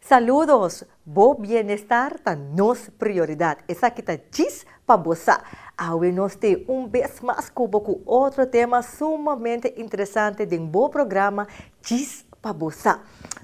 Saludos! Bo bienestar ta nos prioridad. Esaki ta djis pa bo sa. Awe nos te un bes mas cubo cu otro tema sumamente interesante den bo programa Djis pa bo sa.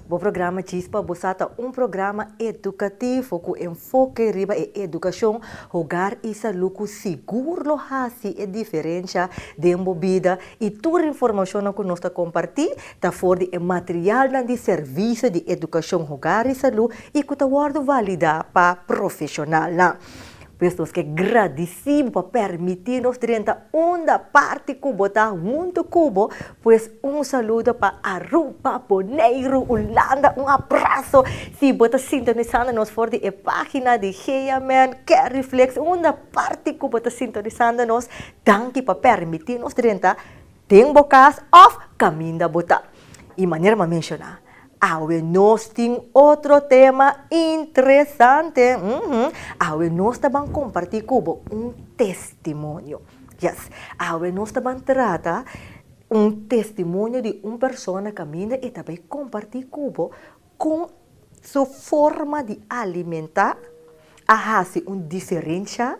Bo programa Djis pa bo sa ta un programa educativo cu enfoke riba e educacion, hogar y salud cu sigur lo haci e diferencia den bo bida y tur informacionnan cu nos ta comparti ta for di e materialnan di servisio di edukashon hogar i salú i ku ta wòrdu validá pa profeshonalnan. Pues nos ke gradisí bo pa permití nos drenta unda parti ku bo ta huntu ku bo. Pues un saludo pa Aruba, Boneiru, Ulanda, un abraso si bo ta sintonisando nos for di e página di Heaman, Cariflex, unda parti ku bo ta sintonisando nos. Danki pa permití nos drenta den bo kas òf kaminda bo ta. I manera m'a menshoná awe nos tin otro tema interesante, mhm. Awe nos ta ban kompartí ku bo un testimonio, yes. Awe nos ta ban trata un testimonio di un persona kaminda e ta bai kompartí ku bo Kon su forma di alimentá a hasi un diferensha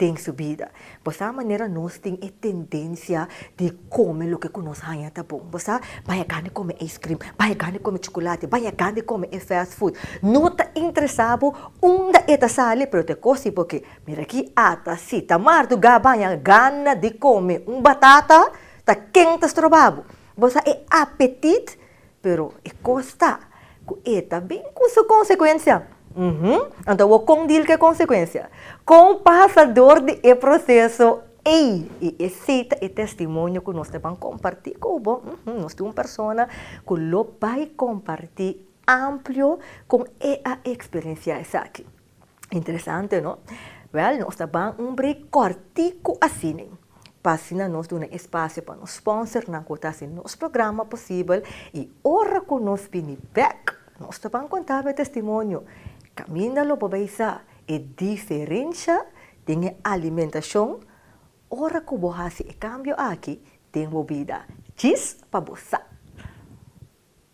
den su bida? Bo sa manera nos tin e tendensia di kome loke ku nos haña ta bon? Bo sa, baña gan di kome ijskrim, baña gan di kome chukulati, baña gan di kome e fast food. No ta interesá bo unda e ta sali, pero ta e kos si bo ke. Mira aki, ata si ta mardugá baña gana di kome un batata, ta ken ta stroba bo? Bo sa e apetit Pero e kos ta ku e ta bin ku su konsekuensia. Uhu. Anto bo kon dil ku e konsekuensia? Kon pasa dor di e proseso ei? I esei ta e testimonio ku nos ta ban kompartí ku bo. Uhu. Nos tin un persona ku lo bai kompartí amplio kon e a eksperensiá esaki. Interesante no? Wel, nos ta ban un break kòrtiku asina, pa asina nos duna espasio pa nos spònsernan ku ta hasi nos programa posibel, i ora ku nos bini bèk, nos ta ban kontá awor e testimonio. Kaminda lo bo bai sa e diferensha den e alimentashon ora ku bo hasi e kambio aki den bo bida. Djis pa bo sa!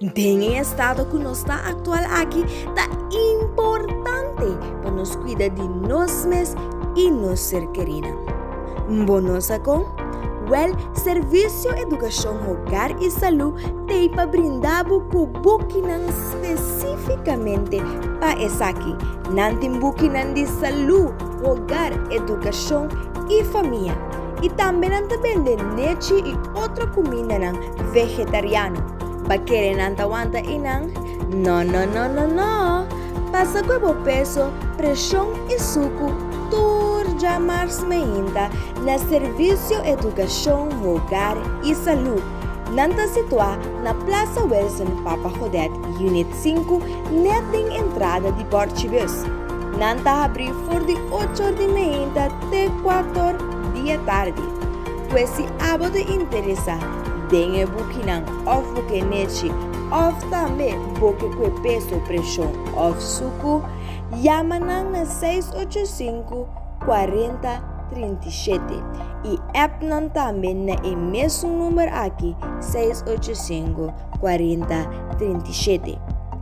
Den e estado ku nos ta aktual aki, ta importante pa nos kuida di nos mes i nos ser kerinan. Bo no sa kon? Wèl, Servisio Edukashon Hogar i Salú t'ei pa brinda bo ku bukinan spesífikamente pa esaki. Nan tin bukinan di salú, hogar, edukashon i famia. I tambe nan ta bende nechi i otro kumindanan Vegetariano, ba kere nan ta wanta i nan? No no no no no! Pasa kue bo peso, preshon i suku tur djamars meinta na Servisio Edukashon, Hogar i Salú. Nan ta situá na Plaza Wilson Papa Godet, Unit 5, net den entrada di Borchibus. Nan ta habrí for di ochor di meinta te kuator di e tardi. Pues si abo ta interesa den e bukinan òf bo ke nechi òf tambe bo ke kue peso, preshon òf suku, yama nan na seis ocho sinku kuarenta trinta i shete i app nan tambe na e mesun number aki seis ocho sinku kuarenta trinta i shete.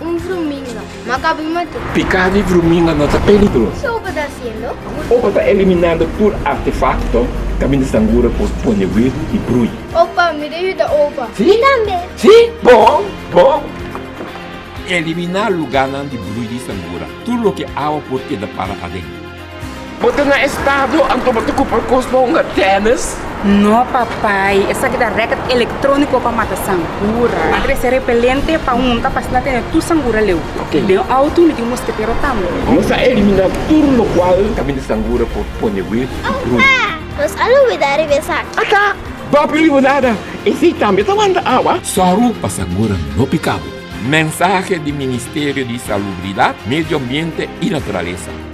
Un vruminga. Maka bin mate. Piká di vruminga no ta peligroso. Ke Opa ta hasiendo? Opa ta eliminando tur artefakto kaminda sangura por pone wegu i brui. Opa, mi ta yuda Opa. Mi tambe. Sí, bon, bon. Eliminá lugánan di brui di sangura. Tur loke awa por keda para aden. Bo ta na estado anto bo ta cumpra cos pa hunga tennis? No papai, esaki ta racket electronico pa mata sangura. Mi trece repelente pa hunta pa así no tene tur sangura leu. Y den auto mi tin mosketero tambe. Nos a elimina tur locual ta mindi sangura por pone wee y brun. Nos a lubida riba esaki. Aca, Bapi Limonada, esey tambe ta wanta awa? Soru pa sangura no pica bo. Mensahe di Ministerio di Salubridad, Medio Ambiente y Naturalesa.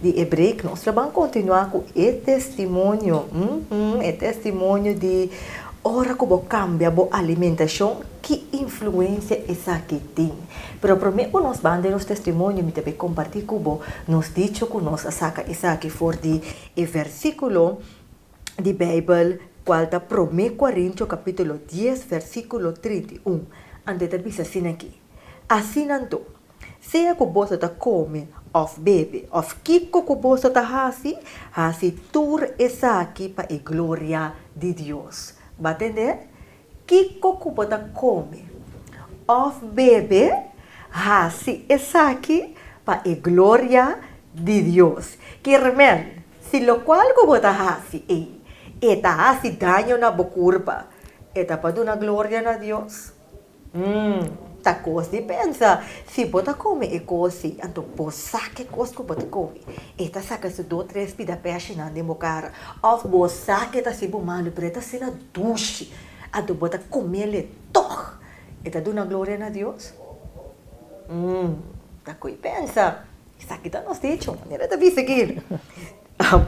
di e break nos lo ban kontinuá ku e testimonio, uhumm e testimonio di ora ku bo kambia bo alimentashon ki influensia esaki tin. Pero promé ku nos ban den nos testimonio mi ta bai kompartí ku bo nos dicho ku nos a saka esaki for di e versíkulo di Beibel kual ta Promé Korinto kapítulo dies versíkulo trinta i un, André ta bisa asina aki. Asinan tur, sea ku boso ta kome òf bebe òf kiko ku boso ta hasi, hasi tur esaki pa e gloria di Dios. Bo a tende? Kiko ku bo ta kome òf bebe, hasi esaki pa e gloria di Dios. Kirmèn, si lokual ku bo ta hasi ei e ta hasi daño na bo kurpa, e ta pa duna gloria na Dios? Hm, ta kos di pensa! Si bo ta kome e kosi, anto bo sa ke kos ku bo ta kome. E ta saka su do tres pida pèshinan den bo kara. Òf bo sa ke ta hasi bo malu, pero e ta asina dushi. Anto bo ta komel e tòg. E ta duna gloria na Dios? Hm, ta koi pensa! Esaki ta nos dicho, manera ta bisa aki.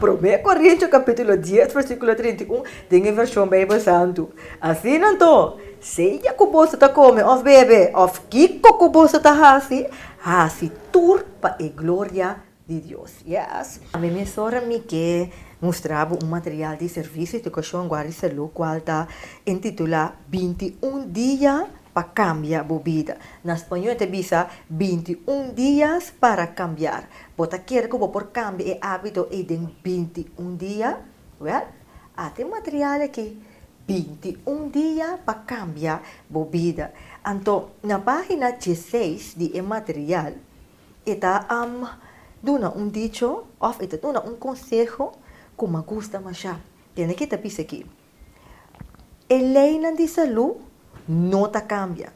Promé Korintios kapítulo dies versíkulo trinta i un den e Vershon Beibel Santu. Asina anto, sea ku boso ta kome òf bebe òf kiko ku boso ta hasi, hasi tur pa e gloria di Dios. Yes! Mi mes ora mi ke mustra bo un material di servisio edukashon guarda di salú kual ta entitulá Binti un dia pa cambia bo bida. Na Spañol e ta bisa binti un dias para cambiar. Bo ta kere cu bo por cambia e habito ey den binti un dia? Wel, a tin material aki, Binti un dia pa cambia bo bida. Anto, na pagina dieseis di e material e ta duna un dicho of e ta duna un conseho cu m'gusta masha. Tene ki ta bisa aki. E leinan di salú no ta kambia.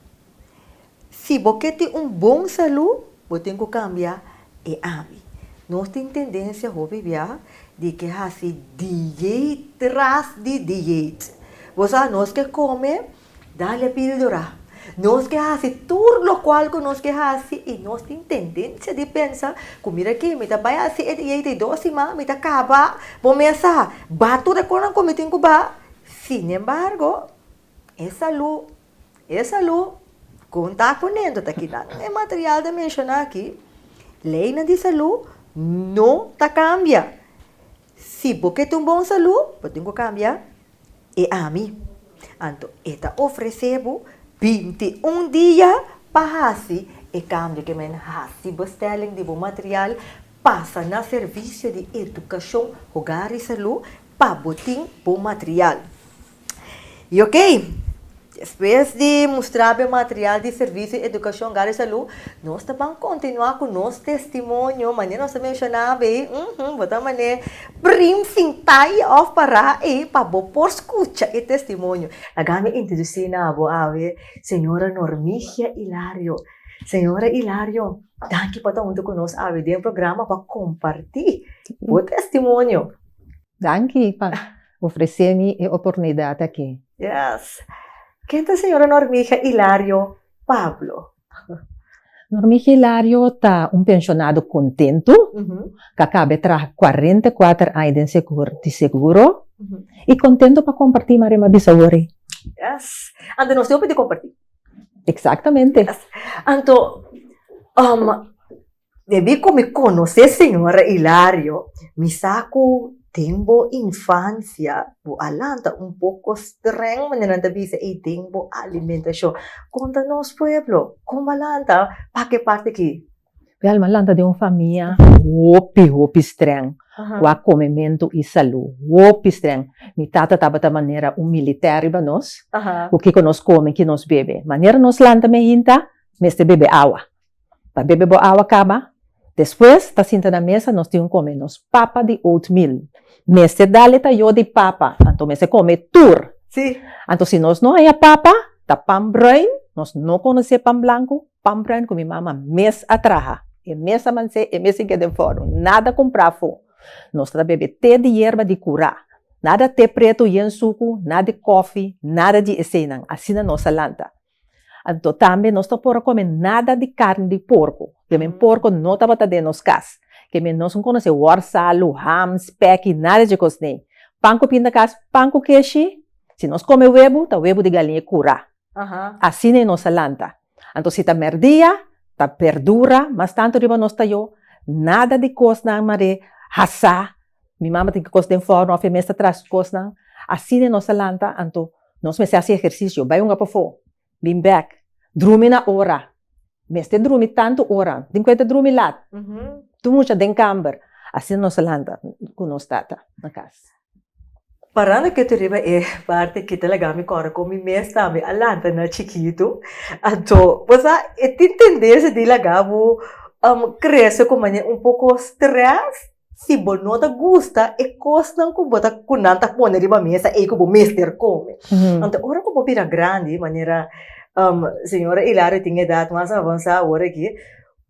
Si bo ke tin un bon salú, bo tin ku kambia e abi. Nos tin tendensia hopi bia di ke hasi diet tras di diet. Bo sa, nos ke kome Dalia pildora, Nos ke hasi tur lokual ku nos ke hasi i nos tin tendensia di pensa ku mira aki, mi ta bai hasi et i et ei dos siman mi ta kaba. Bo mes sa ba tur e kosnan ku mi tin ku ba. Sinembargo, e salu, e salu kon ta kunendo ta kida nan e material ta menshoná aki. Leinan di salu no ta kambia. Si bo ke tin un bon salú, bo tin ku kambia e ami. Anto e ta ofresé bo binti un dia pa hasi e kambio ke men hasi. Bestèling di bo material pasa na Servisio di Edukashon Hogar i Salú pa bo tin bo material. Y ok, despues di mustra be material di servicio di educacion gar y salud, nos ta ban continua cu nos testimonio, manera nos a menciona abey, uhmm, bo ta mane prim sin tay of para ey pa bo por scucha e testimonio. Laga mi introduci na bo awe Sra. Normigia Hilario. Sra. Hilario, danki pa ta hunto cu nos awe den programa pa comparti bo testimonio. Danki pa Ofresé mi e oportunidat akí. Yes. Ken ta Señor Normigia Hilario Pablo? Normigia Hilario ta un penshonado kontentu ku a kaba e traha kuarenta i kuater aña den setor di seguro i kontentu pa kompartí Maria mi a bisa awor ei. Yes. Anto nos tin hopi di kompartí. Eksaktamente. Yes. Anto, Debí ku mi konos'é señora Hilario, mi sa ku den bo infansia bo a lanta un poko strèng manera nan ta bisa ei den bo alimentashon. Konta nos pueblo, kon bo a lanta pak e parti aki? Wèl, m'a lanta den un famia hopi, hopi strèng ku a komementu i salú. Hopi strèng. Mi tata tabata manera un militè riba nos, ku kiko nos kome, ki nos bebe. Manera nos lanta meinta, mester bebe awa. Ta bebe bo awa kaba. Despues ta sinta na mesa nos tin un come nos papa di oatmeal. Mester dale ta yo di papa anto mester come tur. Sí. Anto si nos no haya papa ta pan bruin, nos no conoce pan blanco, pan bruin cu mi mama mes a traha, e mes a manse, e mes a get den forno, nada compra afo. Nos ta bebe te di yerba di cura, nada te preto yen sucu, nada di coffee, nada di esenan, asina nos a lanta. Anto tambe nos no por a kome nada di karni di porko, te men porko no tabata den nos kas. Ke men nos un konosé worsalu, ham, spek i nada dje kos nei. Pan ku pindakas, pan ku keshi. Si nos kome webu, ta webu di galiña kurá. Asina i nos a lanta. Anto si ta mèrdia, ta bèrdura, mas tantu riba nos tayó, nada di kosnan mar'é, hasá, Mi mama tin ki kos den for nòf e mes ta traschi kosnan asina nos ta lanta anto nos mester hasi ehersisio bai hunga pafó bin bèk drumi na ora mester drumi tantu ora tin kuenta drumi lat tur mucha den kamber asina nos ta lanta ku nos tata na kas. Parando kito riba e parti ki ta laga mi kòrda kon mi mes tambe a lanta na chikitu anto bo sa e tin tendensia di laga bo krese ku manera un poko strès Si bo no ta gusta e kosnan ku bo ta ku nan ta pone riba mesa ei ku bo mester kome. Anto ora ku bo bira grandi manera señora Hilario tin edat mas avansá awor aki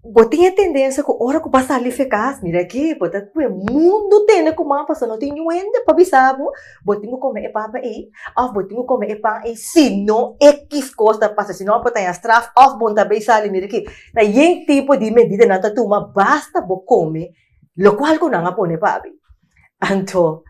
bo tin e tendensia ku ora ku bo a sali fekas mira aki bo ta ku e mundu tende kuma pasobra no tin niun hende pa bisa bo bo tin ku kome e papa ei òf bo tin ku kome e pan ei si no ekis kos ta pasa si no bo ta haña straf òf bo no ta bei sali mira aki ta yen tipo di medida nan ta tuma basta bo kome Lokual ku nan a pone pa abi. Anto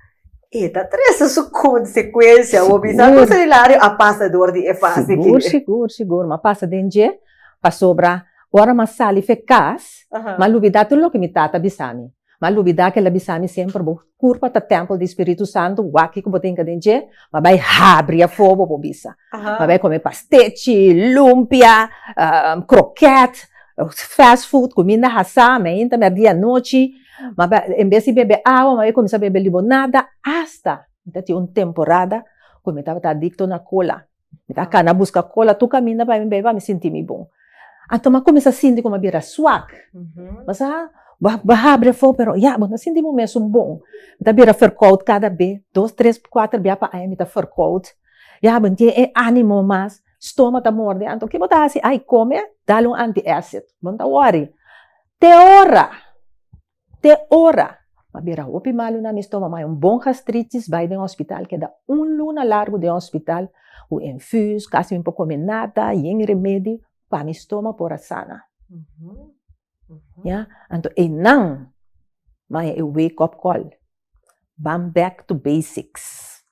e ta trese su konsekuensia. Bo bisa ku Senilario a pasa dor di e fase aki? Sigur, sigur, sigur. Mi a pasa den dje pasobra ora mi a sali fe kas mi a lubidá tur loke mi tata a bisa mi. Mi a lubidá ku el a bisa mi semper, Bo Kurpa ta tèmpel di Spiritu Santu, wak ku bo tinka den dje, ma bai habri afó bo por bisa. Ma bai kome pastechi, lumpia, krokèt, fast food, kuminda hasá, meinta mèrdí anochi, ma bai en bes di bebe awa ma bai kuminsá bebe libonada, asta mi ta tin un temporada ku mi tabata adikto na kola. Mi ta kana buska kola tur kaminda pa mi bebe pa mi sinti mi bon. Anto mi a kuminsá sinti kuma mi a bira suak. Mi sa, bo a bo a habri afó pero ya bo no a sinti bo mesun bon. Mi ta bira ferkòt kada be. Dos, tres, kuater bia pa aña mi ta ferkòt. Ya bo no tin e ánimo mas. Stoma ta mòrdi. Anto ke bo ta hasi? Ai kome, dale un antièsit. Bo no ta wòri. Te ora! Te ora! Ma bira hopi malunan mi stoma mai un bon gastritis bai den hospital keda un luna largu den hospital cu infus casi mi por come nada yen remedi pa mi stoma por a sana ya anto enan mai e wake up call. Ban back to basics,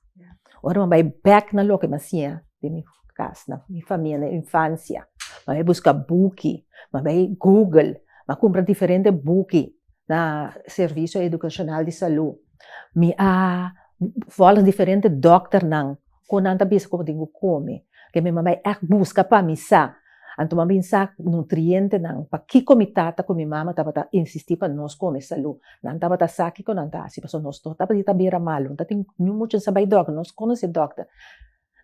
ora mi bai back na loke mi a siña den mi kas, na mi famia, na mi infansia, mi a bai buska buki, mi a bai google, mi a kumpra diferente buki na servisio edukashonal di salu, mi a vòlè diferente dòkternan. cu nan ta bisa cu bo tin cu comi, que mi mama ect busca pa mi sa, anto mi a bin sa nutrientenan, pakico mi tata cu mi mama tabata insisti pa nos comi salu, nan tabata sa kico nan ta haci, pasobra nos tur tabata bira malu, no ta tin niun mucha a sa bay dokter, nos conoci dokter,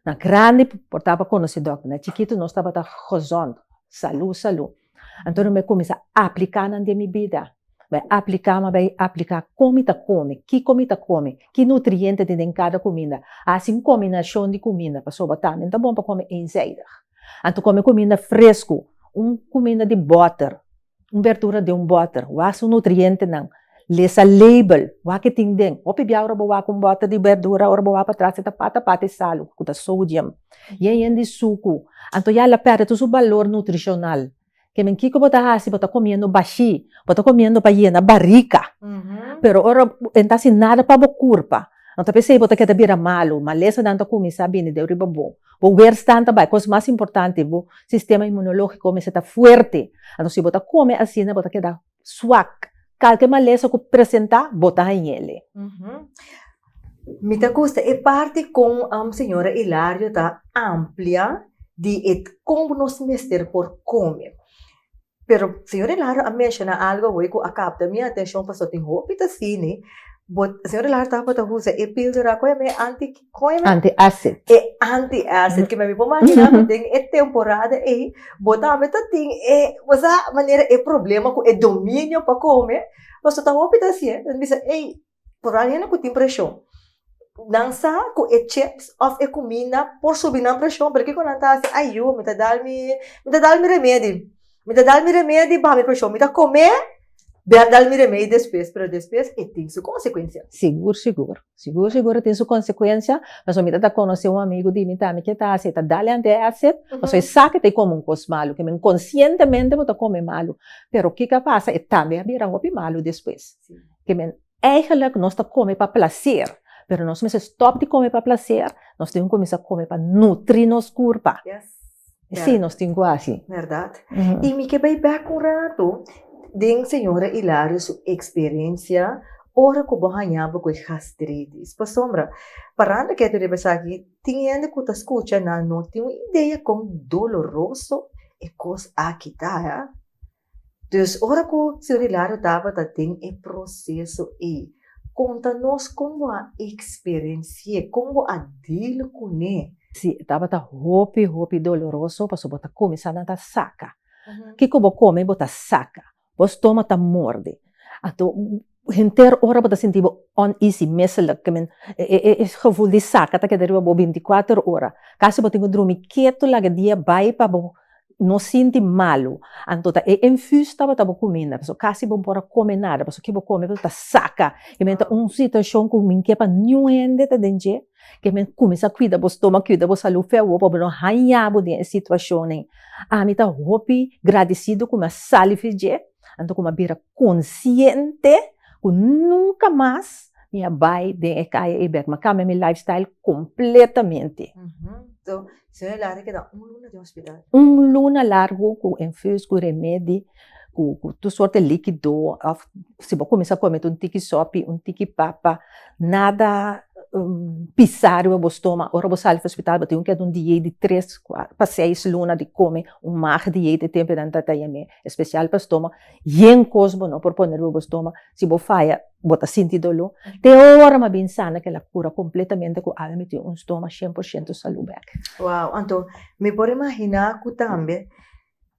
na grandi por tapa conoci dokter, na chikito nos tabata gozon, salu, salu. Anto nan bai cuminsa aplica nan den mi bida, bai aplica mi bai aplica con mi ta comi, kico mi ta comi, ki nutriente tin den cada cuminda, haci un combinacion di cuminda pasobra tambe ta bon pa comi eenzijdig, anto comi cuminda fresco, un cuminda di boter, un berdura di un boter, wak su nutrientenan. Lesa label, wak e tin den. Hopi bia ora bo wak un bòter di bèrdura, ora bo wak pa tras e ta pata pata e salu, ku ta sodium. I e yen di suku. Anto ya el a pèrdè tur su balor nutrishonal. Ke men kiko bo ta hasi, bo ta komiendo bashí, bo ta komiendo pa yena barika. Pero ora e no ta hasi nada pa bo kurpa, no ta pesei bo ta keda bira malu. Malesanan ta kuminsá bini deu riba bo. Bo weerstand ta bai. Kos mas importante, bo sistema inmunológiko a kuminsá ta fuerte. Anto si bo ta kome asina, bo ta keda Swak. Kalke malesa ku presentá, botá den yele. Mi ta gusta e parti kon señora Hilario ta amplia di e kon ku nos mester por kome. Pero señor Hilario a menshoná algu awor ku a kapta mi atenshon pasobra tin hopi ta sini. Bo, señor Hilario tabata usa e píldora, kua e bai anti? Koime? Anti-acid. E anti-acid, ke mi a mi por mahina ku den e temporada ei, bo tambe ta tin e, bo sa manera e problema ku e dominio pa kome, pasobra ta hopi ta hasié, nan bisa ei, probablemente hende ku tin preshon, nan sa ku e chips òf e kuminda por subi nan preshon, pero kiko nan ta hasi, ayio, mi ta dal mi, mi ta dal mi remedi. Mi ta dal mi remei di baha mi preshon, mi ta kom'é, den a dal mi remei despues, pero despues e tin su konsekuensia. Sigur sigur, sigur sigur e tin su konsekuensia, pasobra mi ta ta konosé un amigu di mi tambe ke ta hasi, e ta dal e antiacid, pasobra e sa ke ta kome un kos malu, ke men konsientemente bo ta kome malu, pero kiko a pasa, e tambe a bira hopi malu despues, ke men. Eigenlijk nos ta come pa placer, pero nos mester stop di come pa placer, nos tin cu cuminsa come pa nutri nos curpa. Yes. E si nos tin cu haci. Verdad. Y mi ke bay back un rato den señora Hilario su experiencia ora cu bo hañaba cu e gastritis. Pasobra parando keto riba esaki tin hende cu ta scucha nan no tin un idea con doloroso e cos aki ta. Dus ora ku Señor Hilario tabata den e proseso ei, konta nos kon bo a eksperensi'é, kon bo a deal kuné? Sí, e tabata hopi, hopi doloroso, pasobra bo ta kume sa nan ta saka. Kiko bo kome bo ta saka, bo stomak ta morde. Anto. Henter ora bo ta sinti bo uneasy, misselijk, ke men e geful di saka ta keda riba bo binticuater ora, kasi bo tin ku drumi ketu laga dia bai pa bo no sinti malu, anto ta e infus tabata bo kuminda, pasobra kasi bo no por a kome nada, pasobra ke bo kome ta saka, ke men ta un situashon ku min ke pa niun hende ta den dje, ke men kuminsá kuida bo stómak, kuida bo salú fia bo, pa bo no haña bo den e situashonnan, ami ta hopi gradisidu ku mi a sali fi dje. Anto como a bira consciente cu nunca mas mi a bay den e caya ey bek, mi a cambia mi life style completamente. So señor Larry keda un luna den hospital. Un luna largo cu infus, cu remedi, cu cu tur sorte liquido of si bo cuminsa come ta un tiki sopi, un tiki papa. Nada pisario bo stoma, ora bo sali for hospital bo tin ku keda un diei di tres pa seis luna di kome un mag diei te tempo nan ta yam'e especial pa stoma, yen kos bo no por pone riba bo stoma, si bo faya bo ta sinti dolo, te ora ma bin sana kila kura completamente ku Alma mi tin un stoma shen por shento salu bek. Wow anto mi por imagina ku tambe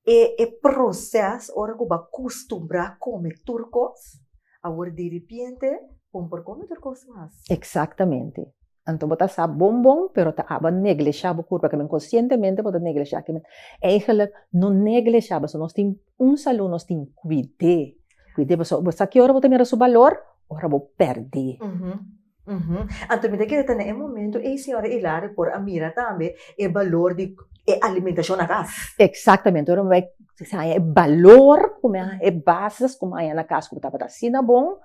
E e proces ora cu bo a custumbra come tur cos awor diripiente bon por come tur cos mas. Exactamente. Anto bo ta sa bon bon pero ta aba neglesha bo curpa kimen conscientemente bo ta neglesha kimen. Eigenlijk no neglesha pasobra nos tin un salud nos tin cuide cuide pasobra bo sa ki ora bo ta mira su balor ora bo perde. Uhumm. Anto mi ta kere ta na e momento ei señora Hilario por a mira tambe e balor di e alimentacion na cas. Exactamente, ora mi bai haña e balor cu mi a haña, e bases cu mi haña na cas cu tabata asina bon,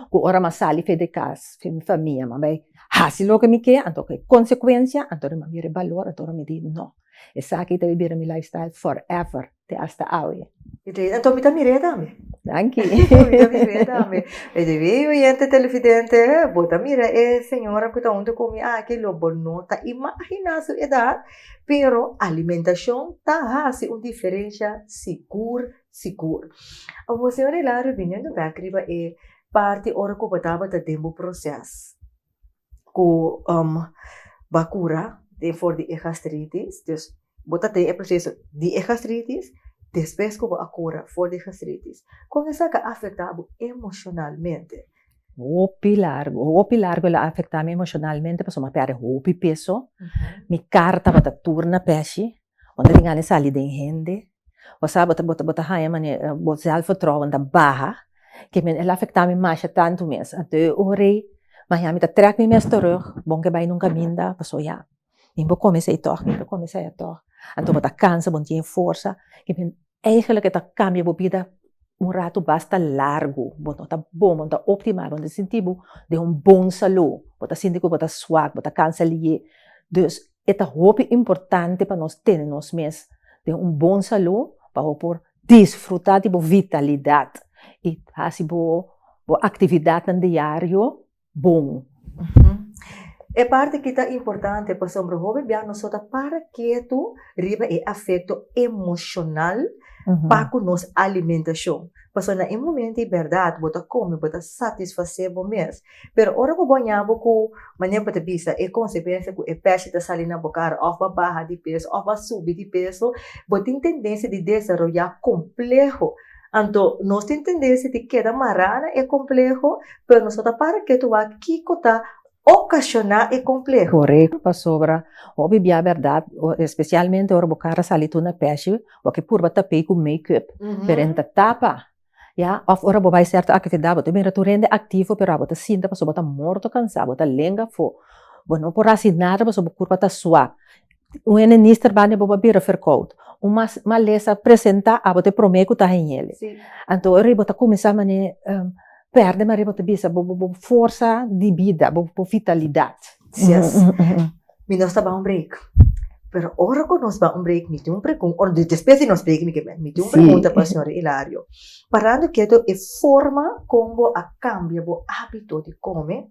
cu ora mi a sali afuer di cas cu mi famia mi a bai haci loke mi ke, anto cu e consecuencia, anto ora mi a mira e balor, anto ora mi di no, esaki ta bira mi lifestyle forever. te asta awe. E te eda tomi ta mir'e tambe. Danki. Tomi ta mir'e tambe. By the way oyente televidente bo ta mira e señora cu ta hunto cu mi aki lo bo no ta imagina su edad pero alimentacion ta haci un diferencia sigur sigur. Awor señor Hilario biniendo back riba e parti ora cu bo tabata den bo proces. ku ba kura den for di e gastritis, dus bo ta tin e proseso di e gastritis despues ku bo a kura for di e gastritis kon esaki a afektá bo emoshonalmente? Hopi largu, hopi largu el a afektá mi emoshonalmente pasobra mi a pèrdè hopi peso, mi kar tabata tur na pèshi, Bo ta tingani sali den hende, bo sa bo ta haña manera bo sèlf vertrouwen ta baha, ke men el a afektá mi masha tantu mes, a deu ore mañana mi ta trèk mi mes terug, bon ke bai nun kaminda, pasobra ya mi bo kòm esei tòg, mi bo kòm esei atòg, anto bo ta kansa, bo no tin e forsa, Eigenlijk e ta kambia bo bida un ratu basta largu, bo no ta bon, bo no ta optimal, bo no ta sinti bo den un bon salu, bo ta sinti ku bo ta swak, bo ta kansa liye. Dus e ta hopi importante pa nos tene nos mes den un bon salu pa bo por disfruta di bo vitalidat i hasi bo aktividatnan diario bon. E parti ki ta importante pasobra hopi bia nos so ta para ketu riba e afekto emoshonal pa ku nos alimentashon. Pasobra na e momento di bèrdat bo ta kome, bo ta satisfasé bo mes, pero ora ku bo a ña bo ku manera ku bo ta bisa e konsekuensia ku e pèshi ta sali na bo kara òf bo a baha di peso òf bo a subi di peso, bo tin tendensia di desaroyá kompleho Anto, nos tin tendens di tin keda mará na e kompleho, pero nos no ta para ketu wak kiko ta okashoná e kompleho. Korekto, pasobra hopi bia bèrdat, espesialmente ora bo kar a sali tur na pèshi, bo a ke purba tap'ei ku makeup, pero e ta tapa, ya. Òf ora bo bai sèrto aktividat, bo ta bira tur hende aktivo, pero abo ta sinta pasobra bo ta morto kansá, bo ta lenga afó, bo no por hasi nada pasobra bo kurpa ta sua. Un enenister banda bo pa bira verkoud, un malesa presenta abo ta e prome ku ta hañele, anto ora i bo ta kuminsá mane pèrdè maria bo ta bisa bo bo forsa di bida bo bo vitalidat. Mi nos ta ban un break pero ora ku nos ban un break mi tin un pregun ora despues di nos break mi ke mi tin un pregunta pa señor Ilario parando ketu e forma kon bo a kambia bo ábito di kome.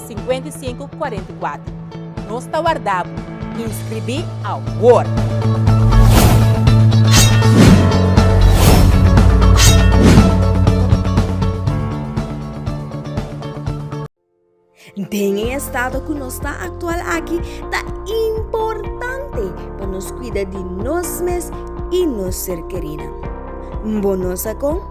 5544. Nos ta warda bo. Inscribí awor! Den e estado ku nos ta aktual aki, ta importante pa nos kuida di nos mes i nos ser kerinan. Bo no sa kon?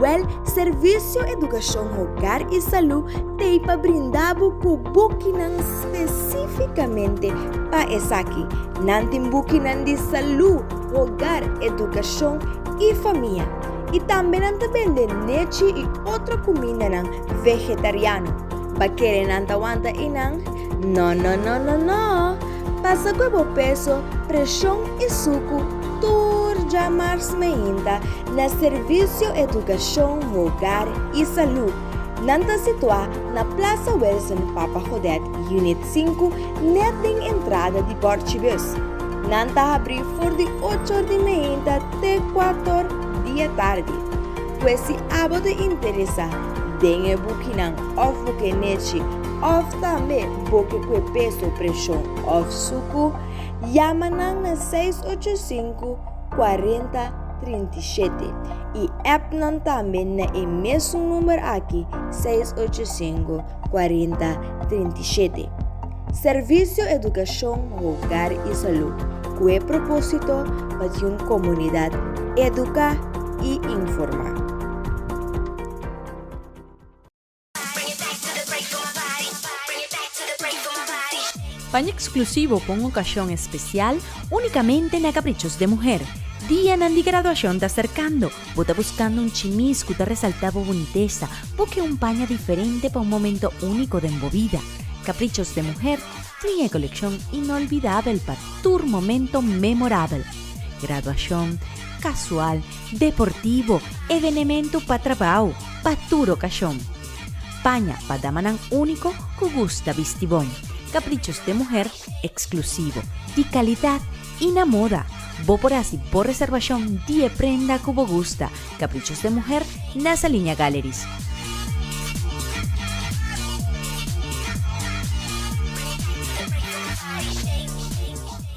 Wèl, Servisio Edukashon Hogar i Salú t'ei pa brinda bo ku bukinan spesífikamente pa esaki. Nan tin bukinan di salú, hogar, edukashon i famia. I tambe nan ta bende nechi i otro kumindanan vegetariano. Pa kere nan ta wanta i nan? No no no no no pasa kue bo peso preshon i suku tur dja mars meinta na servisio edukashon hogar i salud nan ta situá na plasa Wilson papa Godet unit sinku net den entrada di Borchibus nan ta habrí for di ochor di meinta te kuator dia tardi kue si abo ta interesa den e bukinan òf bo ke nechi òf tambe boke kue peso preshon òf suku, yama nan na seis ocho sinku kuarenta trinta i shete i app nan tambe na e mesun number aki seis ocho sinku kuarenta trinta i shete. Servisio Edukashon Hogar i Salu kue propósito pa tin un komunidat eduká i informá. Paña eksklusivo pa un okashon espesial únikamente na Kaprichos de Muher. Dianan di graduashon ta serkando. Bo ta buskando un chimis ku ta resaltá bo bunitesa? Buki un paña diferente pa un momento úniko den bo bida. Kaprichos de Muher tin e kolekshon inolbidabel pa tur momento memorabel. Graduashon, kasual, deportivo, evenemento pa trabao, pa tur ocasion. Paña pa damanan unico cu gusta bisti bon, caprichos de muher exclusivo, di calidad y na moda. Bo por haci bo reservacion di e prenda cu bo gusta, caprichos de muher, na Saliña Galleries.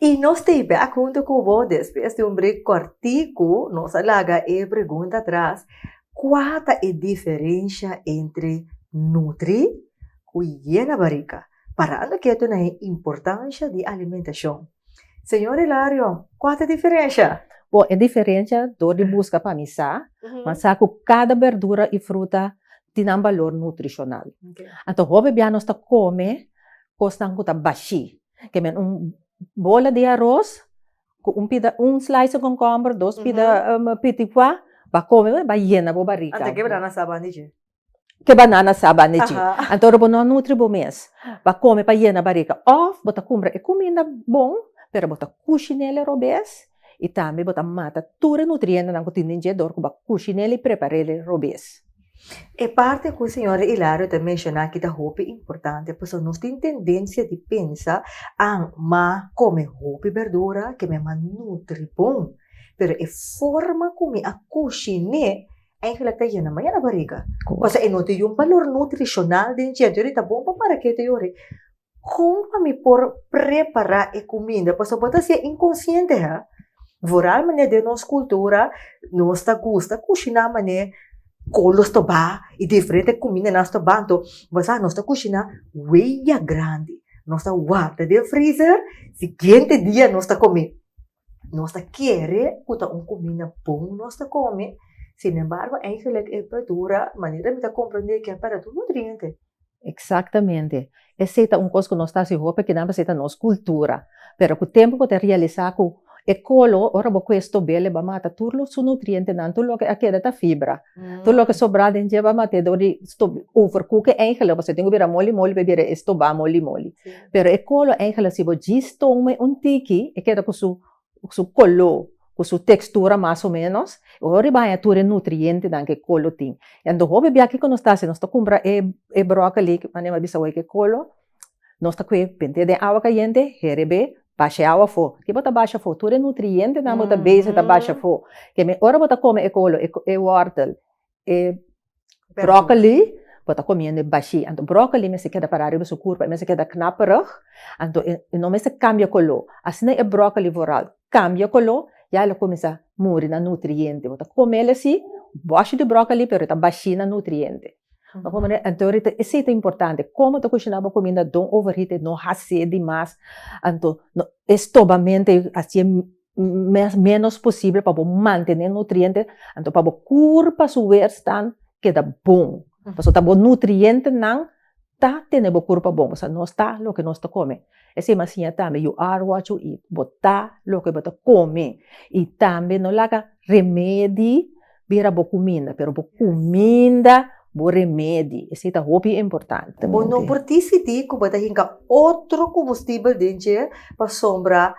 I nos ta e bèk huntu ku bo despues di un brek kòrtiku. Nos a laga e pregunta atras, Kua ta e diferensha entre nutri ku yena barika? Parando ketu na e importansha di alimentashon. Señor Hilario, kua ta e diferensha? Bon, e diferensha dor di buska pa mi sa, nan sa ku kada berdura i fruta tin nan balor nutrishonal. Anto hopi bia nos ta kome kosnan ku ta bashí. Kemen un bola di aros ku un pida un slice konkomber dos pida pitikua ba kome bo i ba yena bo barika. Ante ke banana sa bandi dje. Ke banana sa bandi dje. Anto ora bo no nutri bo mes ba kome pa yena barika òf bo ta kumbra e kuminda bon pero bo ta kushi nel e robes y tambe bo ta mata tur e nutrientenan cu tin den dje dor cu bo a cushi nel y preparel e robes. E parti cu Sra. Hilario ta menciona aki ta hopi importante pasobra nos tin tendencia di pensa an ma come hopi berdura ke mi a mas nutri bon pero e forma cu mi a cushi ne eigenlijk ta yena ma yena bariga pasobra e no ta yu un balor nutricional den dje entonces ta bon pa para ke ta yu ori. Kon pa mi por prepará e kuminda? Pasobra bo ta hasié inkonsiente, ha? Vooral manera den nos kultura, nos ta gusta kushiná manera kolos ta ba i diferente kumindanan ta ba. Anto, bo sa, nos ta kushiná wei ya grandi. Nos ta warda den freezer, sigiente dia nos ta kom'é. nos ta kere ku ta un kuminda bon nos ta kome, sinembargo eigenlik e berdura, manera mi ta komprendé ke a pèrdè tur nutriente. Eksaktamente. Esei ta un kos ku nos ta hasi hopi kinan pasobra e ta nos kultura. Pero ku tempu bo ta realisá ku e kolo, ora bo kues tobel, e bai mata tur su nutrientenan, tur loke a keda ta fibra. Tur loke sobra den djeba matedor di stop overcook e eindelijk pasobra tin ku bira moli moli pa e bira e stobá moli moli pero e kolo e eindelijk si bo djis toon me un tiki e keda ku su ku su koló ku su tekstura mas o menos bo por baña tur e nutrientenan ku e kolo tin enton hopi biakiku nos ta hasi nos ta kumpra e e brokoli manera mi a bisa awor ku e kolo. Nos ta kue pente den awa kayente heri be basha e awa afo, ki bo ta basha afo? Tur e nutrientenan bo ta base ta basha afo, kei mi ora bo ta kome e kolo, e wòrtel, e bròkoli bo ta komiendo bashí, anto bròkoli mester keda pará riba su kurpa, e mester keda knaperig, anto e no mester kambia koló, asina e bròkoli voral kambia koló ya lo kuminsá muri na nutriente, bo ta komel así, bòshi di bròkoli pero e ta bashí na nutriente. Bo pone anto rita e si ta importante, como ta cushina bo cuminda don over heat e no haci di mas, anto e stobamento e haci'e menos posible pa bo mantene nutriente, anto pa bo cur pa su weerstand keda bon, pasobra ta bo nutrientenan Ta tene bo kurpa bon, bo sa nos ta loke nos ta kome. Esei m'a siña tambe, You are what you eat, bo ta loke bo ta kome. I tambe no laga remedi bira bo kuminda, pero bo kuminda bo remedi, esei ta hopi importante. Bo no por disidí ku bo ta hinka otro kumbustibel den dje pasobra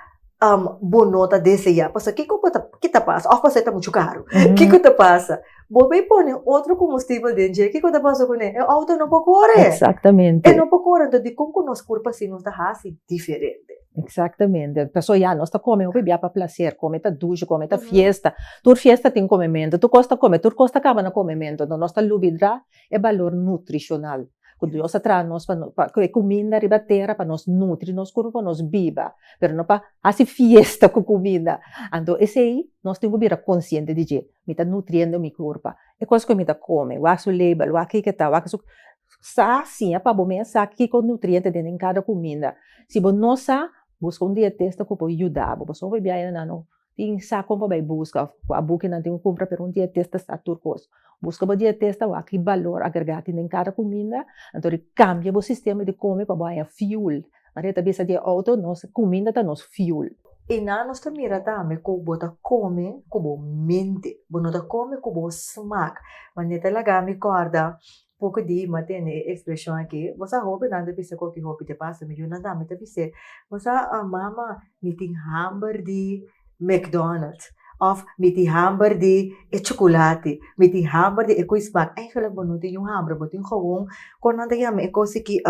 bo no ta deseá pasobra kiko ku ta ke ta pasa òf pasobra e ta muchu karu kiko ta pasa? Bo bai pone otro kombustibel den dje kiko ta pasa kuné? E outo no por kore e no por kore enton dikon ku nos por fasi nos ta hasi diferente? Eksaktamente pasobra ya nos ta kome hopi bia pa plaser kome ta dushi kome ta fiesta tur fiesta tin komementu tur kos ta kome tur kos ta kaba na komementu enton nos ta lubidrá e balor nutrishonal. ku Dios a traha nos pa pa ku e kuminda riba tera pa nos nutri nos kurpu pa nos biba pero no pa hasi fiesta ku kuminda anto esei nos tin ku bira konsiente di dje mi ta nutriendo mi kurpa e kos ku mi ta kome wak su label wak kiko ta wak su sa siña pa bo mes sa kiko nutriente den den kada kuminda si bo no sa buska un dietista ku por yuda bo pasobra biaha e na nan tin sa kon pa bai buska of kua bukinan tin ku kumpra pero un dietista ta sa tur kos, buska bo dietista wak ki balor agregá tin den kada kuminda anto di kambia bo sistema di kome pa bo haña fiul, maria ta bisa di e outo nos kuminda ta nos fiul. I nan nos ta mira tambe ku bo ta kome ku bo mente, bo no ta kome ku bo smak, manera ta laga mi kòrda Poco di hima tene e expresion aki, Vos a hopi nan ta bisa cu aki hopi ta pasa mi. Junan ta ami ta bis'e, Vos a mama mi tin hamber di McDonald of mi tin hamber di e chocolate, mi tin hamber di e cu smaak. Eigenlijk bo no tin un hambre, bo tin gewoon con nan ta yama e cos aki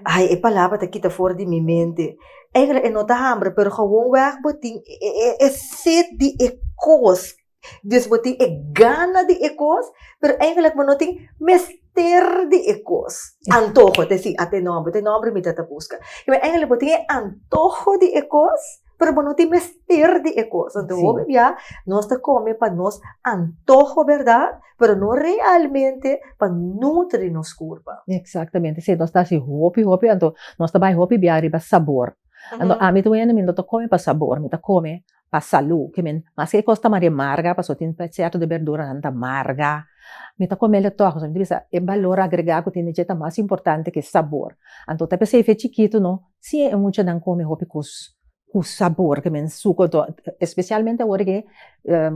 hay e palabra ta kita for di mi mente. Eigenlijk e no ta hambre pero gewoon weg bo tin e set di e cos. Dios bo tin e gana di e kos, pero eigenlijk bo no tin mester di e kos. Antoho, ta esei, ata e nòmber, ta e nòmber mi ta ta buska. Kiba? Eigenlijk bo tin e antoho di e kos, pero bo no tin mester di e kos. Anto hopi bia nos ta kome pa nos antoho, bèrdat? Pero no realmente pa nutri nos kurpa. Eksaktamente esei. Nos ta hasi hopi, hopi, anto nos ta bai hopi bia riba sabor. Anto ami ta wene, mi no ta kome pa sabor, mi ta kome pa salú, ke men maske e kos ta maria marga, pasobra tin pa sierto de berduranan ta marga, mi ta kome el tòg, pasobra mi ta bisa e balor agregá ku tin dje ta mas importante ke sabor, anto ta p'esei fe chikitu no, si e muchanan kome hopi kos ku sabor, ke men suko anto espesialmente awor ke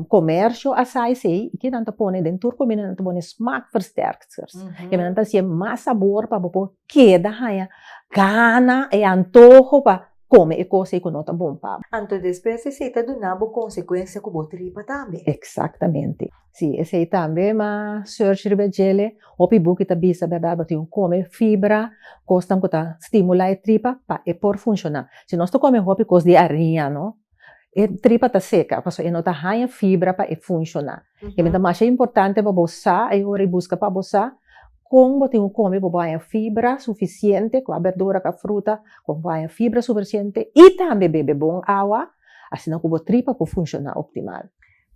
komersio a sa esei, i kinan ta pone den tur kumida nan ta pone smaakversterkers, ke nan ta hasié mas sabor pa bo por keda haña gana e antoho pa. kome e kos ei ku no ta bon pa bo. Anto despues esei ta duna bo konsekuensia ku bo tripa tambe. Eksaktamente. Si, esei tambe ma search riba e jele, hopi buki ta bisa bèrdat bo tin ku kome fibra, kosnan ku ta stimula e tripa pa e por funshoná. Si nos ta kome hopi kos di ariña, no e tripa ta seka, pasobra e no ta haña fibra pa e funshoná. E mester masha importante pa bo sa ei ora i buska pa bo sa kon bo tin ku kome pa bo haña fibra sufisiente, kua berdura, kua fruta, kon bo haña fibra sufisiente i tambe bebe bon awa, asina ku bo tripa por funshoná optimal.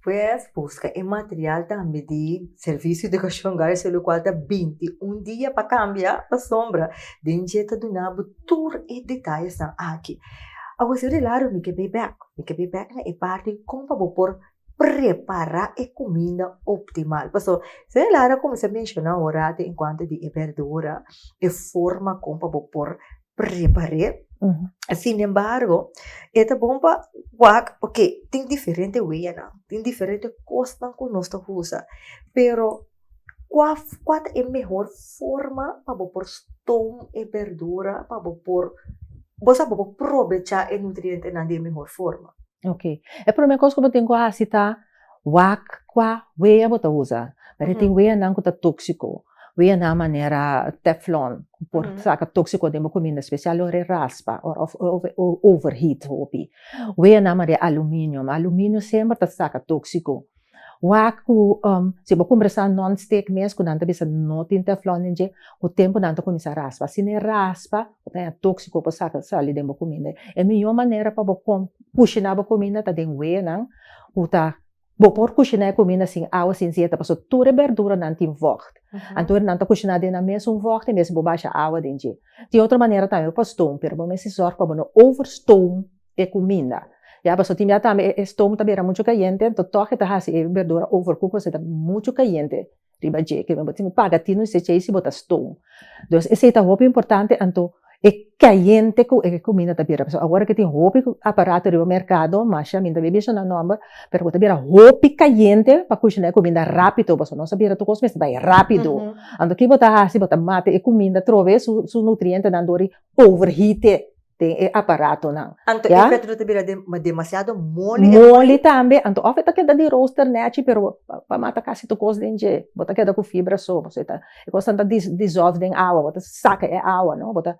Pues busca e material tambe di servicio de educacion hogar su locual ta binti un dia pa cambia pasobra den dje ta duna bo tur e detalles nan aki awe si rilaro mi ke bay back mi ke bay back na e parti con pa bo por prepara e cuminda optimal pasobra si nan lara como esaki menciona ora ato en cuanto di e berdura e forma con pa bo por prepar'é sinembargo e ta bon pa wak oke tin diferente weyanan tin diferente kosnan ku nos ta usa pero kua kua ta e mehor forma pa bo por ston e berdura pa bo por bo sa bo por probecha e nutrientenan di e mehor forma. Oke e promé kos ku bo tin ku hasi ta. Wak kua wea bo ta usa, pero e tin weanan ku ta tóksiko, weanan manera teflon ku por saka tóksiko den bo kuminda spesial ora e raspa òf overheat hopi, weanan manera e aluminio, aluminio semper ta saka tóksiko, wak ku si bo kumpra sa non stik mes ku nan ta bisa no tin teflon den dje ku tempu nan ta kuminsá raspa, si nan e raspa bo ta haya tóksiko por saka sali den bo kuminda, e mihó manera pa bo kushiná bo kuminda ta den weanan. Bo ta bo por kushiná e kuminda sin awa sin sieta pasobra tur e berduranan tin vògt anto nan ta kushiná den nan mesun vògt i mester bo basha awa den dje. Tin otro manera tambe bo por stoom pero bo mester sòrg pa bo no over stoom e kuminda ya pasobra tin bia tambe e stoom ta bira muchu kayente anto tòg e ta hasi e berdura overcook pasobra e ta muchu kayente. riba dje ke bo tin ku paga tin ese chei si bo ta ston. Entonces esei ta hopi importante anto e kayente ku e kuminda ta bira pasobra awor ke tin hopi aparato riba merkado masha mi no ta bin menshona nòmber pero bo ta bira hopi kayente pa kushina e kuminda rápido pasobra nos a bira tur kos mester bai rápido anto ki bo ta hasi bo ta mati e kuminda troves su nutrientenan dor di overheat. den e aparatonan. Anto e pet no ta bira demasiado moli? Moli tambe, anto òf e ta keda di roaster nèchi pero pa mata kasi tur kos den dje, bo ta keda ku fibra so, pasobra e ta e kosnan ta disòlf den awa, bo ta saka e awa no, bo ta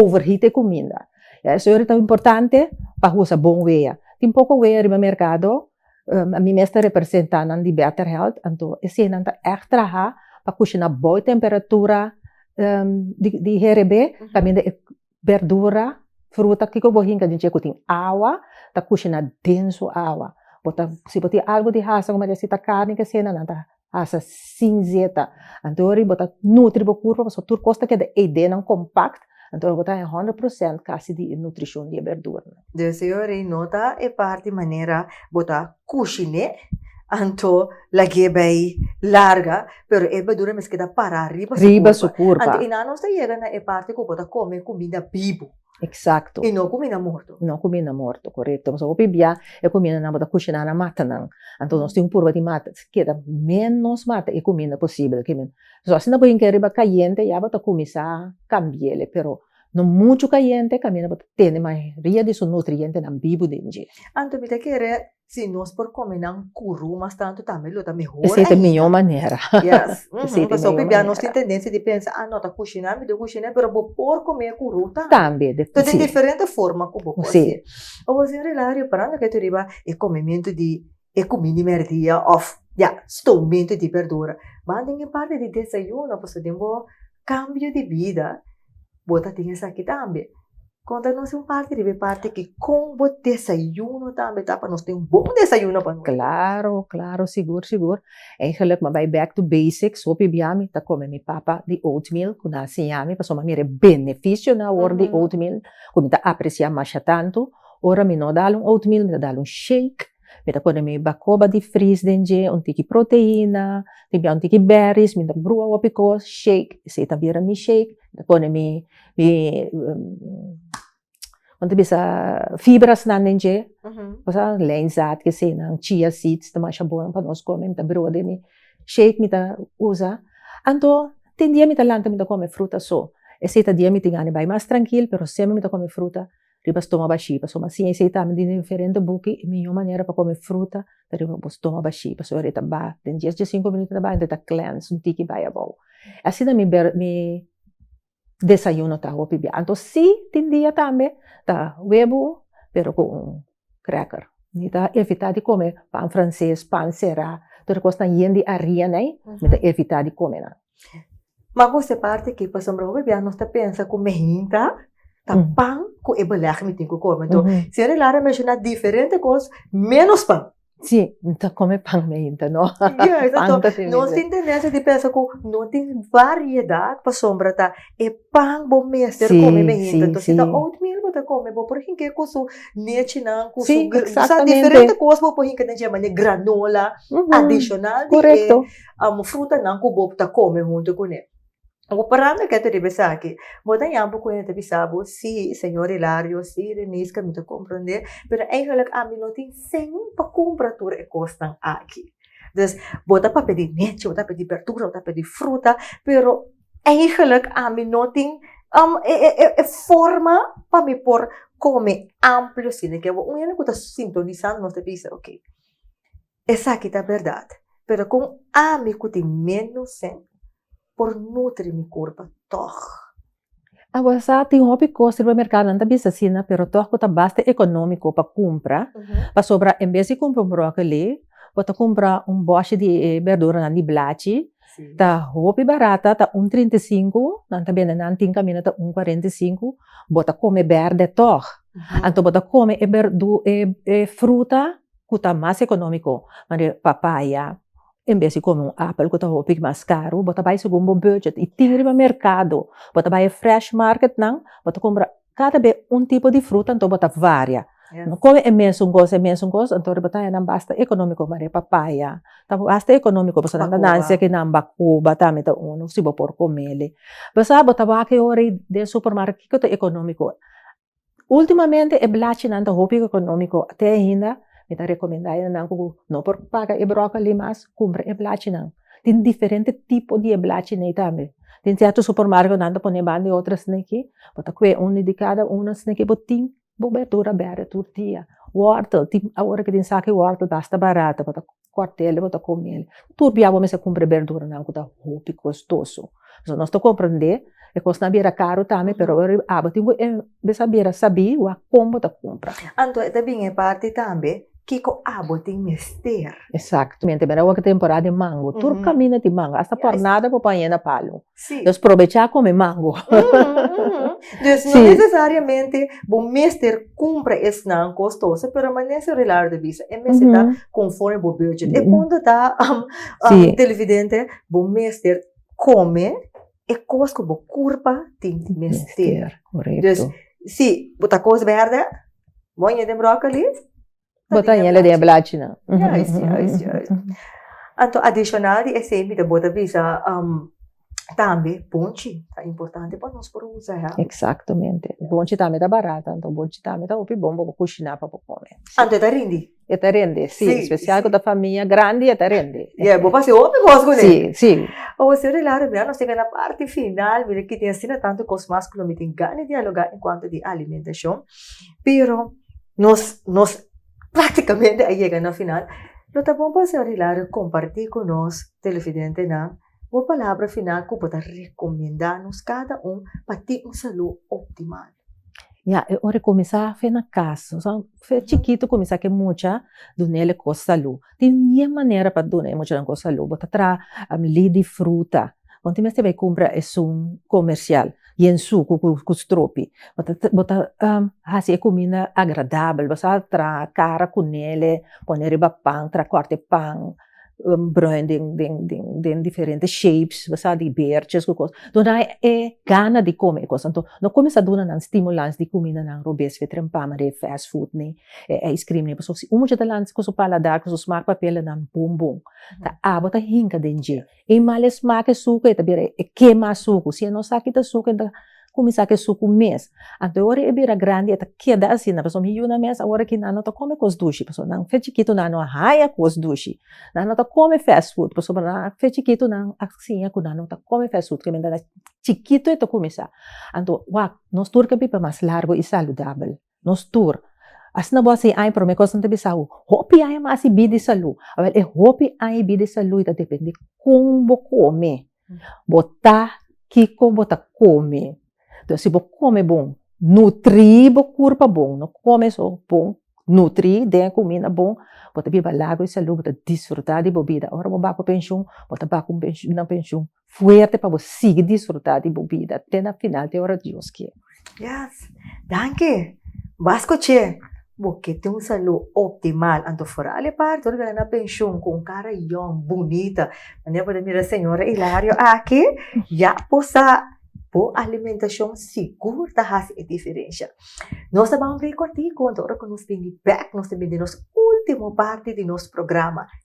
overheat e kuminda, ya esei ora ta importante pa usa bon wea, tin poko wea riba merkado, ami mes ta representa nan di Better Health, anto eseinan ta ègt traha pa kushina bou e temperatura di di herebe kaminda e berdura, fruta, kiko bo hinka di dje ku tin awa, ta kushiná den su awa, bo ta si bo tin algu di hasa kuma disi ta karni kesena nan ta hasa sin zeta, anto wòrdu bo ta nutri bo kurpa pasobra tur kos ta keda ei denan kompakt, anto bo ta honderd prosènt kasi di e nutrishon di e berduranan. Desi wòrdu nota e parti manera bo ta Kushiné, anto lag'é bai larga, pero e badura mes keda pará riba su kurpa. Anto i nan nos ta yega na e parti ku bo ta kome kuminda bibu. Eksakto. I no kuminda morto. No kuminda morto, korekto. Pasobra hopi bia e kumindanan bo ta kushiná na mata nan. Anto nos tin un purba di mata, keda ménos mata i kuminda posibel. So asina bo hinka e riba kayente, ya bo ta kuminsá kambi'é, pero No muchu kayente kaminda bo ta tene mayoria di su nutrientenan bibu den dje. Anto mi ta kere si nos por kome nan kuru mas tantu tambe lo ta mehor ainda. Esei ta e miño manera. Yes. Uhum. Pasó ku bia nos tin tendensia di pensa, ah no ta kushiná, mi dor kushiné, pero bo por kome kuru tambe. Tambe. Si. Ta den diferente forma ku bo por hasié. Awor sin relá, reparando ke ta riba e komementu di. e kumindi mèrdia òf ya stomento di bèrdura. Ban den e parti di desayuno pasobra den bo kambio di bida bo ta tin esaki tambe. Kon ta nos un parti riba e parti aki kon bo desayuno tambe ta pa nos ta un bon desayuno pa nos? Klaro klaro sigur sigur eigenlik mi a bai back to basics hopi bia mi ta kome mi papa di oatmeal ku nan siña mi pasobra mi a mira e benefisionan awor di oatmeal ku mi ta apresiá masha tantu. Ora mi no dal un oatmeal mi ta dal un shake, mi ta pone mi bacoba di fris den dje, un tiki proteina, tin bia un tiki berries, mi ta brua hopi cos, shake, esey ta bira mi shake, mi ta pone mi con ta bisa fibras nan den dje, cosa leinzaad kesey nan, chia seeds ta masha bon pa nos come, mi ta brua den mi shake mi ta usa, anto tin dia mi ta lanta mi ta come fruta so, esey ta dia mi tin gana di bai mas trankil pero semper mi ta come fruta. riba stoma bashí, pasobra mas siña i sei tambe den diferente buki e miñó manera pa kome fruta ta riba bo stoma bashí, pasobra e ta bai den dies dje sinku minuto e ta bai enton e ta cleanse un tiki bai abou, asi ta mi ber mi desayuno ta hopi bia, anto si tin dia tambe ta webo pero ku un kreker, mi ta evitá di kome pan franses, pan será, tur e kos nan yen di arina ei mi ta evitá di kome nan. Maku se parti ki pasobra hopi bia nos ta pensa ku mehinta ta pan ku e belèg mi tin ku kome enton señor Elara a menshona diferente kos ménos pan. Si no ta kome pan mehinta no nos tin tendensia di pensa ku no tin variedat pasobra ta e pan bo mester kome mehinta enton si ta oatmeal bo ta kome bo por hink'é ku su nechinan ku su diferente kos bo por hinka den dje manera granola adishonal di e. amo frutanan ku bo ta kome huntu ku ne. Bo parando kèt riba esaki, bo ta yama bo kuña ta bisa bo, Sí, señor Hilario, sí, Reniska, mi ta komprondé, pero eingelik ami no tin sen pa kumpra tur e kosnan aki. Dus, bo ta pa pedí nechi, bo ta pedí bèrdura, bo ta pedí fruta, pero eingelik ami no tin e forma pa mi por kome amplio asina. Ke bo un hende ku ta sintonisá nos ta bisa, Oké. Esaki ta berdad, pero kon ami ku tin ménos fe por nutri mi kurpa tòg? Awa sa tin hopi kos riba merká, nan ta bisa asina, pero tòg bo ta basta ekonómiko pa kumpra. Pasobra en bes di kumpra un bròkeli, bo ta kumpra un bòshi di e bèrduranan di blachi, ta hopi barata, ta un trinta i sinku, nan ta bende nan tin kaminda ta un kuarenta i sinku, bo ta kome bèrdè tòg. Anto bo ta kome e fruta. ku ta mas ekonómiko, manera papaya, en bes di kome un apel ku ta hopi mas karu, bo ta bai segun bo budget i tin riba merkado, bo ta bai e fresh marketnan, bo ta kumpra kada be un tipo di fruta, anto bo ta varia, no kome e mesun kos, e mesun kos, anto riba taña nan basta ekonómiko, manera papaya ta basta ekonómiko, pasobra nan ta nanse ku nan bakoba tambe ta unu, si bo por kom'e, pasá bo ta wak e ora den supermarket kiko ta ekonómiko. Ultimamente e blachinan ta hopi economico, te ainda mi ta recomenda nan cu no por paga e broccoli mas cumpra e blachinan, tin diferente tipo di e blachi n'ey tambe, tin cierto supermarco nan ta pone banda e otro sneki, bo ta cue uno di cada uno sneki bo tin bo berdura bere tur dia, wortel tin awor tin saki wortel basta barato bo ta cuartel bo ta comel, tur bia bo mester cumpra e berduranan cu ta hopi costoso, so nos ta comprende e cosnan a bira caro tambe pero ora abo tin bo mes a bira sabi wak con bo ta cumpra. Anto e ta bin e parti tambe kico abo tin mester. Exacto, mente mira awor temporada di mango, tur caminda tin mango, hasta por nada bo paña na palo. Sí. Nos probechá kome mango. Dus no nesesariamente bo mester kumpra esnan kostoso, pero manese relar de bisa. E mester ta konforme bo budget. E punto ta, televidente, bo mester kome e kos ku bo kurpa tin mester. Korèkto. Dus, si bo ta kos bèrdè, bo a ña den bròkoli? Bota hiela den e blachinan. Juist, juist, juist. Anto adishonal di esei mi ta bota bisa tambe ponchi ta importante pa nos por usa e hami. Eksaktomente. Ponchi tambe ta barat, anto ponchi tambe ta hopi bon pa bo kushiná pa bo kome. Anto e ta rindi? E ta rindi, sí. Sí, sí. Spesial ku ta famia grandi e ta rindi. Ya, bo por hasi hopi kos ku n'e. Sí, sí. Osi ora e la rumia nos yega na parti final. Mira kiten asina tantu kos mas ku lo mi tin gana di dialogá en kuantu di alimentacion. Pero, nos nos práktikamente a yega na final. Lo ta bon pa señor Hilario kompartí ku nos televidentenan bo palabra final ku bo ta rekomendá nos kada un pa tin un salú optimal. Ya, e ora e kuminsá fe na kas, nos a fe chikitu kuminsá ke mucha dun'el e kos salú. Tin dies manera pa duna e muchanan con salud, bo ta traha li di fruta, bo no tin mester bay cumpra esun comercial, bien sucu cu stropi, bo ta haci e cuminda agradabel, bo sa traha cara cu nele, pone riba pan, traha corte pan, broe den diferente shapes, bo sa di beertjes cu cos, dunai e gana di come e cos, enton no cuminsa dunanan stimulans di cumindanan robes, fetrenpam, fast food, nee. E ice cream ni pasobra si un mucha ta lanta cu su paladar cu su smaak papia lo nan bun bun ta abo ta hinca den dje e mal e smaak e sucu e ta bira e kema e sucu si e no sa kita e sucu e ta cuminsa ki e sucu mes anto e ora e bira grandi e ta keda asina pasobra mi yuna mes awor aki nan no ta come cos dushi pasobra nan fe chikitu nan no a haya cos dushi nan no ta come fast food pasobra nan fe chikitu nan a siña cu nan no ta come fast food kibendada chikitu e ta cuminsa anto wak nos tur ca biba mas largo y saludabel. Nos tur. Asina bo a hasi ai, prome kos nan ta bisa bo, hopi ai mas i bida i salu. Awel, e hopi ai i bida i salu i ta depende kon bo kome, bo ta kiko bo ta kome. Entonces si bo kome bon, nutri bo kurpa bon, no kome so bon, nutri den e kuminda bon, bo ta biba lagu i salu, bo ta disfruta di bo bida. Ora bo ba ku penshun, bo ta ba ku nan penshun. fuerte pa bo sigui disfruta di bo bida te na final te ora Dios kier. Yes. Danki. Bas ku che. Bo ke tin un salu optimal anto foral e parti ora bira na penshun ku un kara yòn bunita manera bo ta mira señora Hilario aki ya bo sa bo alimentashon sigur ta hasi e diferensha. Nos ta baha un brek kortiku anto ora ku nos bini bèk nos ta bini den nos ultimo parti di nos programa.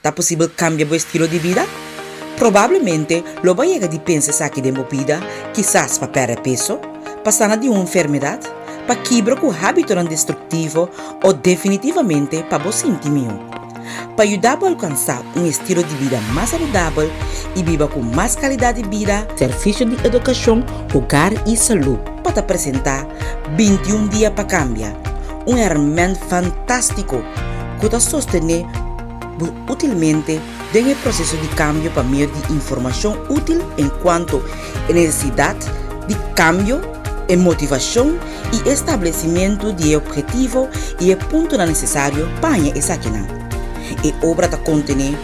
Ta posibel kambia bo estilo di bida? Probablemente lo bo a yega di pensa esaki den bo bida, kisas pa pèrdè peso, pa sana di un enfermedat, pa kibra ku hábitonan destruktivo o definitivamente pa bo sinti mió. Pa yuda bo alkansá un estilo di bida mas saludabel i biba ku mas kalidat di bida, Servisio di Edukashon, Hogar i Salú pa ta presentá Binti un dia pa kambia! Un hèrmènt fantástiko ku ta sostené bo útilmente den e proseso di kambio pa medio di informashon útil en kuanto e nesesidat di kambio, e motivashon i e stablesimentu di e ophetivo i e puntonan nesesario pa haña esakinan. E obra ta kontené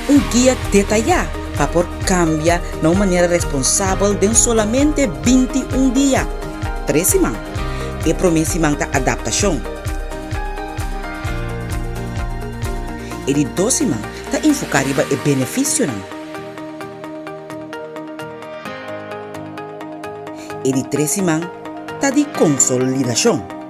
un guia detayá pa por kambia na un manera responsabel den solamente binti un dia, tres siman. E promé siman ta adaptashon. E di dos siman ta enfoká riba e benefisionan. E di tres siman ta di konsolidashon.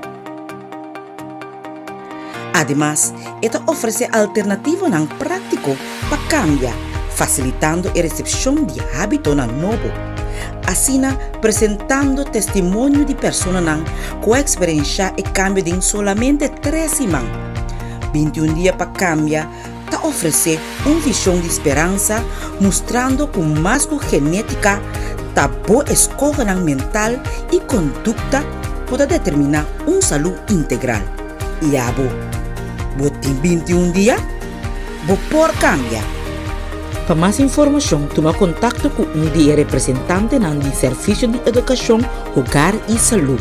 Ademas, e ta ofresé alternativonan práktiko pa kambia, fasilitando e resepshon di hábitonan nobo, asina presentando testimonio di personanan ku a eksperenshá e kambio den solamente tres siman, binti un dia pa kambia. ta ofresé un vision di speransa mustrando cu mas cu genetica ta bo escogenan mental y conducta por ta determina un salu integral. Y abo? Bo tin binti y un dia? Bo por cambia! Pa mas informacion tuma contacto cu un di e representantenan di Servicio di Educacion, Hogar y Salud.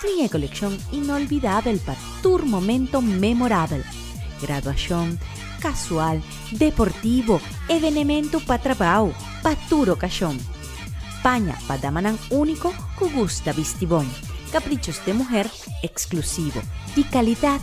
Tin e kolekshon inolbidabel pa tur momento memorabel, graduashon, kasual, deportivo, evenementu pa trabou, pa tur okashon. Paña pa damanan úniko ku gusta bisti bon, kaprichos den muher eksklusivo, di kalidat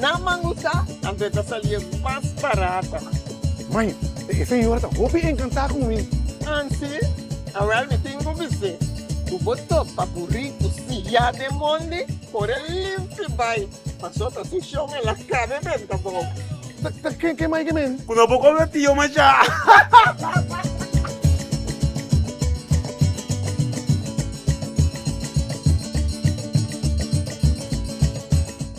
Na Mangusta nan ta eta salia mas barata. Mai, e señora ta hopi encanta cu mi. Ansi? Awel mi tin cu bis'é cu bo topa cu ricu siya den mondi ora el limpi bai paso ta su shon el a cabe benta bo. Ta ken ken mai ke men? Cu no bo cobra tio masha.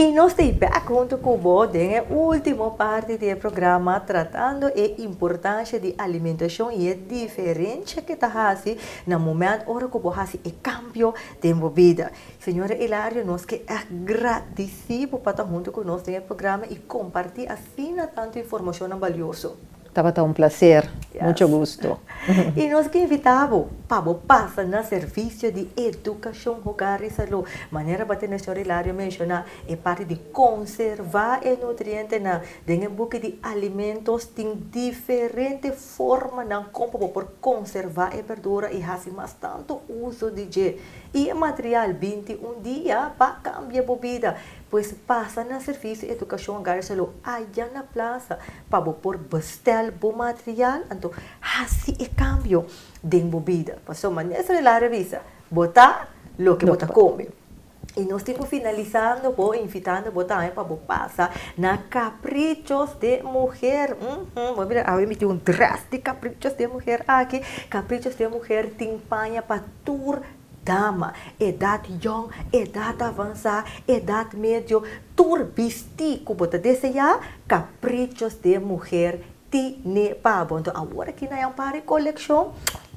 Y nos ta y back hunto cu bo den e ultimo parti di e programa tratando e importancia di alimentacion y e diferencia ke ta haci na moment ora cu bo haci e cambio den bo bida. Señora Hilario, nos ke agradisí bo pa ta huntu ku nos den e programa i kompartí asina tantu informashonnan balioso. Tabata un plaser. Mucho gusto. I nos ke invitá bo pa bo pasa na Servisio di Edukashon Hogar i Salú. Manera bat'e Mesñor Hilario menshoná, e parti di konservá e nutrientenan den e buki di alimentos tin diferente. Formanan kon pa bo por konservá e berdura i hasi mas tantu uso di dje. I e material binti un dia pa kambia bo bida. Pues pasa na Servisio Edukashon Hogar Shalou aya na plasa pa bo por bstèl bo material anto hasi e kambio den bo bida. Pasobra mester el a revisa bo ta loke bo ta kome. Y nos tin cu finalisando bo invitando bo tambe pa bo pasa na Caprichos de Mujer. Uhm, bo mira awe miti un dress di Caprichos de Mujer aki. Caprichos de Mujer tin paña pa tur dama, edad yong, edad avansa, edad medio, tur bisti cu bo ta desea, Caprichos de Mujer tine pa bo. Enton awor aki na Yampari Coleccion,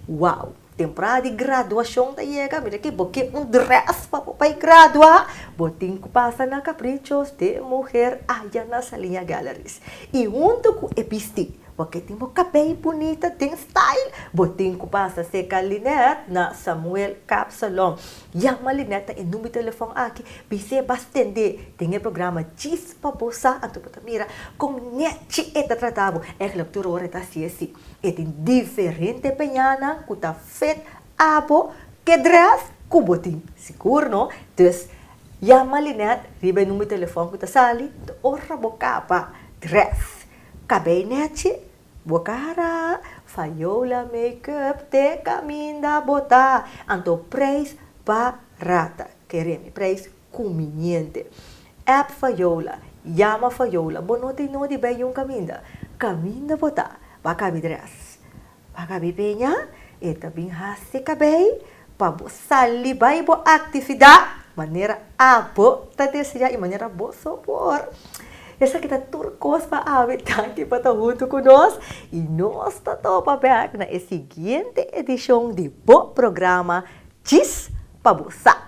wow! Temporada di graduashon ta yega, mira ke bo ke un dress pa bo bai gradua, bo tin ku pasa na Caprichos de Muher aya na Salinha Galleries. I huntu ku e bisti, bo ke tin bo kabei bunita den style, bo tin ku pasa seka Lynette na Samuel Cap Salon. Yama Lynette na e number di telefòn aki, bis'é bas tendé den e programa djis pa bo sa, anto bo ta mira kon netchi e ta trata bo. Ègla tur ora e ta hasié así. E tin diferente peñanan cu ta fit abo ke dress cu bo tin. Sigur no? Dus yama Lynette riba e number di telefon cu ta sali ta ora bo caba dress, cabei nechi, bo cara, fayola, makeup, te caminda, bota. Anto prijs barata. Keremi prijs Kumiente. App for Yola, Yama for Yola, Bo no tin nodi bai Yun Kaminda? Kaminda bo ta? Ba kabi dres? Ba kabi peña? E ta bin hasi kabei pa bo sali bai bo aktividat manera abo ta deseá i manera bo so por. Esaki ta tur kos pa abi. Danki pa ta huntu ku nos i nos ta topa bèk na e siguiente edishon di bo programa Djis pa bo sa.